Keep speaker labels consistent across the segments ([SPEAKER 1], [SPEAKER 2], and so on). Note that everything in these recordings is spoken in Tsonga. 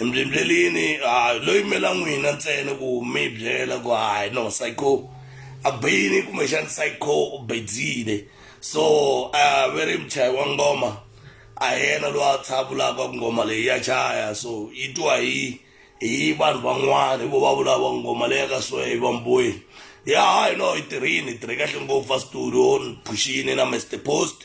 [SPEAKER 1] embyembyelini hayi lo yimela n'wina ntsena ku mi byela ku hayi no psycho a bini kumbexani psycho u bedzile so a ve ri muchayi wa ngoma a hi yena loyi a tshavulaka ngoma leyi ya chaya so yi twa hi hi vanhu van'wana hi vo va vulava ngoma leyi ka so hi vambweni ya hayi no yi tirhini hi tirhe kahle ngopfu a studio ni phuxini na mr post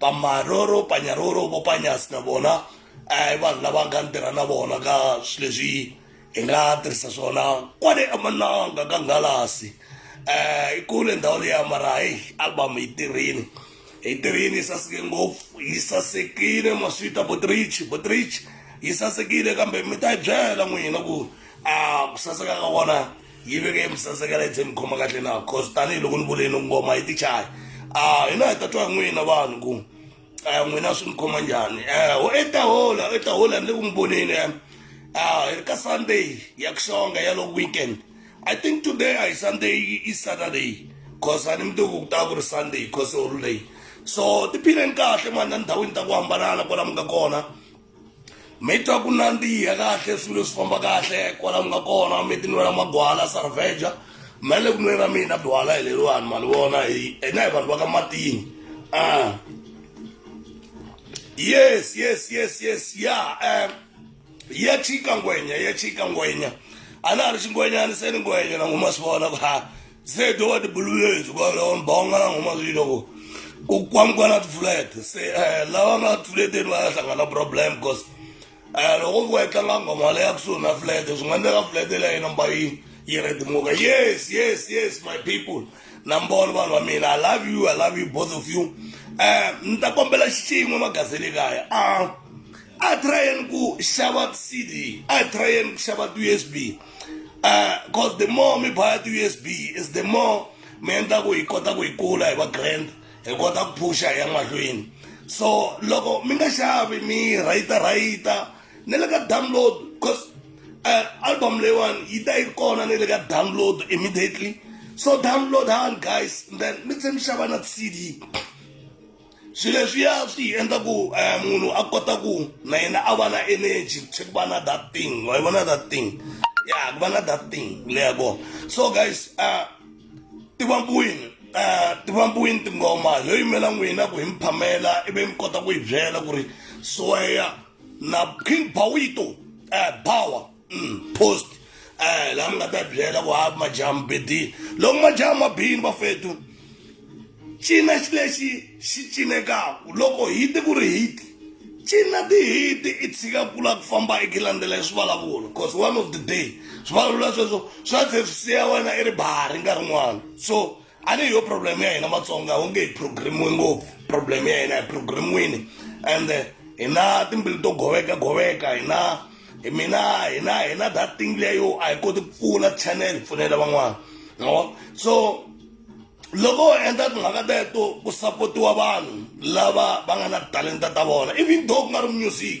[SPEAKER 1] pamaroro panyaroro vo panyasi na vona i vanhu lava nga ni tirha na vona ka swilo leswi hi nga tirhisa swona kwale emananga ka ngalasi um i kule ndhawu leya mara heyi album yi tirhini yi tirhini yi saseke ngopfu yi sasekile maswita botrich botrich yi sasekile kambe mi ta yi byela n'wina ku a ku saseka ka kona yi veke emusasekela yi tlhe ni khoma kahle na cause tanihiloko ni vuleni ngoma yi ti chaya a hina hi ta twa hi n'wina vanhu ku a n'wina swi ni khoma njhani um i ta hola i ta hola ni le ku n'wi voneni um hi ri ka sunday ya ku xonga ya loko weekend i think today a hi sunday i saturday cause a ni mi tiku ku ta ku ri sunday cause holiday so tiphineni kahle mani na ndhawini ta ku hambanana kwala mi nga kona mi twa ku nandziha kahle swilo swi famba kahle kwala mi nga kona mi tinwela magwala sarveja me le ku nweni ra mina byala hi leriwani mali vona hina hi vanhu va ka matini a ah. yes yes yes yes ya um ya chika ngwenya ya chika ngwenya a na ha ri xingwenyani se ni ngwenya na n'wi ma swi vona ku ha se to va tibuluyesu kwalaho mbhonga na nghoma swilo ku ku kwamukwana tiflat se um lava nga fleteni va ya hlangana problem because um loko ku va yi tlanga nghoma leya kusuhi na flat swi nga endleka flat leya yi numba yi yi redimuka yes yes yes my people nambolo vanhu va mina i love you i love you both of you um ni ta kombela xin'we magazini kaya a a tryeni ku xava cd a tryeni ku xava ti-usb because uh, the more mi baya ti-usb is the more mi endla ku hi kota ku hi kula hi va grand hi kota ku phusha hi ya mahlweni so loko mi nga xavi mi rhayita rhayita ni le ka download because uh, album leyiwani yi ta yi kona ni le ka download immediately so download han guys then mi tlhe mi xava na cd swilo leswiya swi hi endla ku um munhu a kota ku na yena a va na energy se ku va na that thing wa yi vona that thing ya ku va na that thing leya kona so guys um tivambiwini um tivambiwini tingoma yo yimela n'wina ku hi mi phamela ivi mi kota ku yi byela ku ri soya na king bawito um bawa post eh la mi nga ta byela ku hayi majamu bedini loko majamu ma bini vafetu cina xi lexi xi cinekaka loko hiti ku ri hiti cina tihiti i tshika kula ku famba i ki landzela hi swivalavulo because one of the day swivulavula sweswo swa tlhe swi siya wena i ri bahari nkarhi n'wana so a ni hi yo problem ya hina matsonga wu nge hi programiwe ngopfu problem ya hina hi programiwini and hi na timbilu to goveka goveka hi na hi mina hi na hi na that thing leyo a hi koti ku pfuna channel pfunela van'wana no so loko ho endla timhaka teto ku sapotiwa vanhu lava va nga na talenta ta vona even though ku nga ri music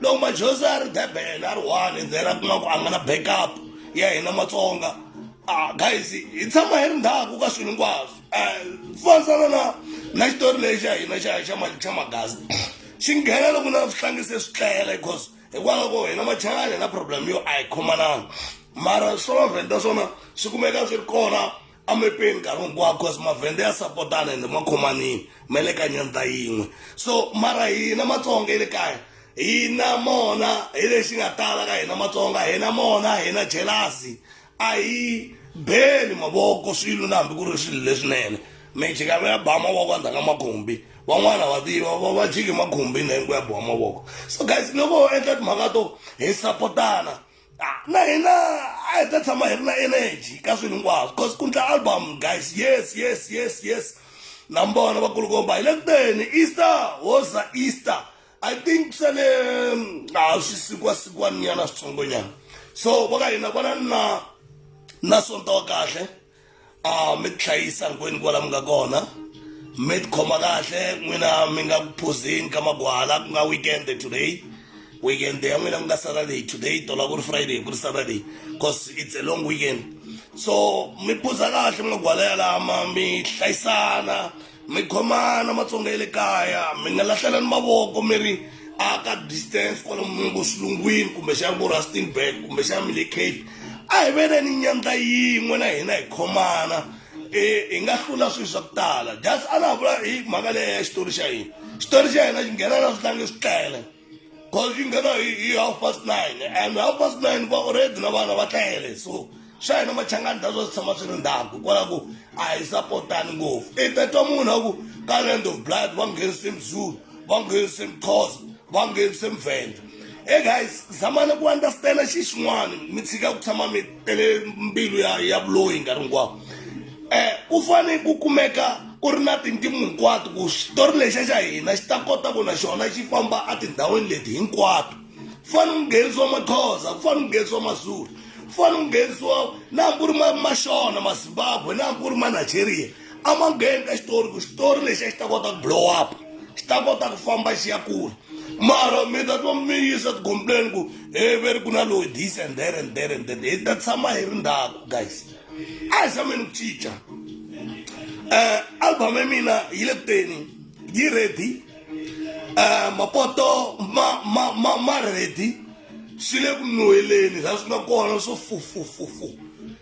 [SPEAKER 1] loko majosi a ri durban a ri one and then a kuma ku a nga na backup ya hina matsonga ah guys hi tshama hi ri ndhaku ka swilo hinkwaswo um fanisana na na xitori lexi xa hina xa xa ma- xa magasi xi nghena loko na swihlangi se swi tlela because hikwalaho ko hina machangani hi na problem yo a hi khomananga mara swa mavhenda swona swi kumeka swi ri kona amepeni nkarhi hinkwawo cause mavhende ya sapotana ende ma khomanile ma le ka nyandza yin'we so mara hina matsonga ya le kaya hina mona hi lexi nga tala ka hina matsonga hina mona hina jelasi a hi beli mavoko swilo na hambi ku ri swilo leswinene mijikava ya ba mavoko endzhaku ka makhumbi van'wana va tiva va va jiki makhumbini hinku ya biwa mavoko so guys loko ho endla timhaka to hi sapotana ah, na hina a hi ta tshama hi ri na energy ka swilo hinkwaswo because ku ndla album guys yes yes yes yes na mbona vakulukomba hi le kuteni easter hoza easter i think swa le a swi sikwasikwaninyana switsongonyana so va ka hina vona na na sonto wa kahle a mi tihlayisa hinkwenu kwala mi nga kona mi tikhoma kahle n'wina mi nga ku phuzini ka magwala ku nga weekend today weekend ya n'wina ku nga saturday today tola ku ri friday ku ri saturday cause it's a long weekend so mi phuza kahle magwala yalama mi hlayisana mi khomana matsonga ya le kaya mi nga lahlelani mavoko mi ri a ka distance kwalomu ngo xilungwini kumbexana vo rustenburg kumbexana mi le cape a hi veneni nyandza yin'we na hina hi khomana um hi nga hlula swilo swa ku tala just a na ha vula hi mhaka leya ya xitori xa hina xitori xa hina xi nghena na swi tlange swi tele coaching ka na hi half past nine and half past nine va already na vana va tlayele so swa hina machangani ta swa swi tshama swi ri ndhaku hikwalaho ku a hi sapotani ngopfu i ta twa munhu a ku ka land of blood va nghenise mzulu va nghenise mxhosa va nghenise mvenda e guys zamani ku understanda xi xin'wana mi tshika ku tshama mi tele mbilu ya ya vuloyi nkarhi hinkwawo eh ku fane ku kumeka ku ri na tintimu hinkwato ku xitori lexa xa hina xi ta kota ku na xona xi famba etindhawini leti hinkwato ku fane ku nghenisiwa maxhosa ku fane ku nghenisiwa mazulu ku fane ku nghenisiwa na hambi ku ri ma ma xona mazimbabwe na hambi ku ri ma nigeria a ma ngheni ka xitori ku xitori lexi a xi ta kota ku blow up xi ta kota ku famba xi ya kula mara mi ta twa mi yisa tigompleni ku he ve ri ku na loyi this and there and there and there hi ta tshama hi ri ndhaku guys a hi zameni ku cinca um album ya mina yi le kuteni yi ready um mapoto ma ma ma ma ready swi le ku nuheleni laha swi nga kona swo fufufufu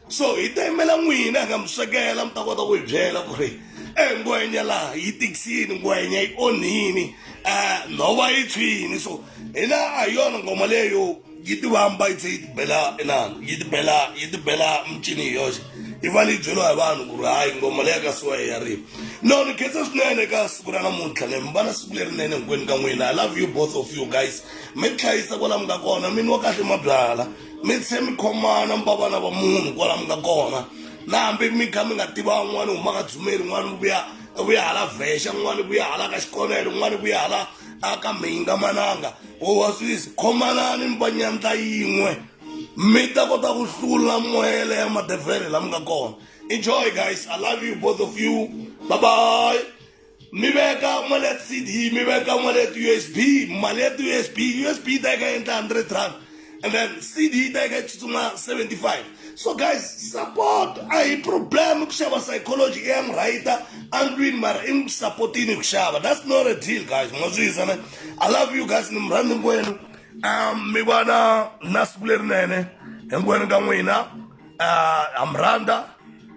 [SPEAKER 1] so hi ta yimela n'wina hi nga mi swekela mi ta kota ku hi byela ku ri e ngwenya laha yi tikisini ngwenya yi onhini um nhova yi tshwini so hina a hi yona ngoma leyo yi tivamba yi tlhe yi tibela inani yi tibela yi tibela micini hi yoxe yi va leyi byeriwa hi vanhu ku ri hayi ngoma leya ka siwa ya rima no ni khensa swinene ka siku ra namuntlha ne mi va na siku lerinene hinkwenu ka n'wina i love you both of you guys mi tihlayisa kwala mi nga kona mini wa kahle mabyala mi se mi khomana mi va vana va munhu kwala mi nga kona na hambi mi kha mi nga tiva un'wana u humaka dzumeli un'wana u vuya u vuya hala vhexa un'wana u vuya hala ka xikonelo un'wana u vuya hala a ka mhinga mananga u wa swisi khomanani mi va nyandla yin'we mi ta kota ku hlula moya leya madevhele la mi nga kona enjoy guys i love you both of you bye bye mi veka wallet cd mi veka wallet usb mali ya ti-usb usb yi ta yi ka endla hundred rand and then cd yi ta yi ka yi tsutsuma 75 so guys support a hi problem ku xava psychology i ya murhayita andlwini mara i n'wi sapotini ku xava that's not a deal guys ma swi yisana i love you guys ni mi rhandzi hinkwenu um mi va na na siku lerinene hinkwenu ka n'wina um ha mi rhandza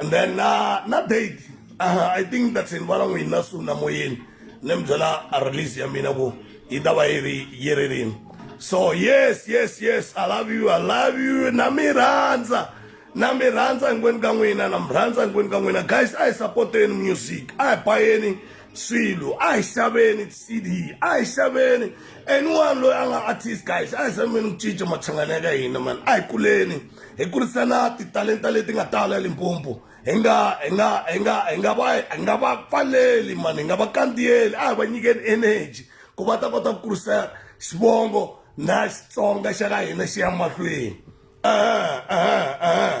[SPEAKER 1] and then na na date uh, i think that's in vala n'wina su na moyeni ni mi byela a release ya mina ku yi ta va yi ri yi ri rini so yes yes yes i love you i love you na mi rhandza na mi rhandza hinkwenu ka n'wina na mi rhandza hinkwenu ka n'wina guys a hi sapoteni music a hi bayeni swilo a hi xaveni cd a hi xaveni anyone loyi a nga artist guys a hi xaveni ku cinca mathangana ya ka hina mani a hi kuleni hi kurisana titalenta leti nga tala limpompo hi nga hi nga hi nga hi nga va hi nga va pfaleli mani hi nga va kandziyeli a hi va nyikeni energy ku va ta kota ku kurisa xivongo na xitsonga xa ka hina xi ya mahlweni uh-huh, uh-huh, uh-huh.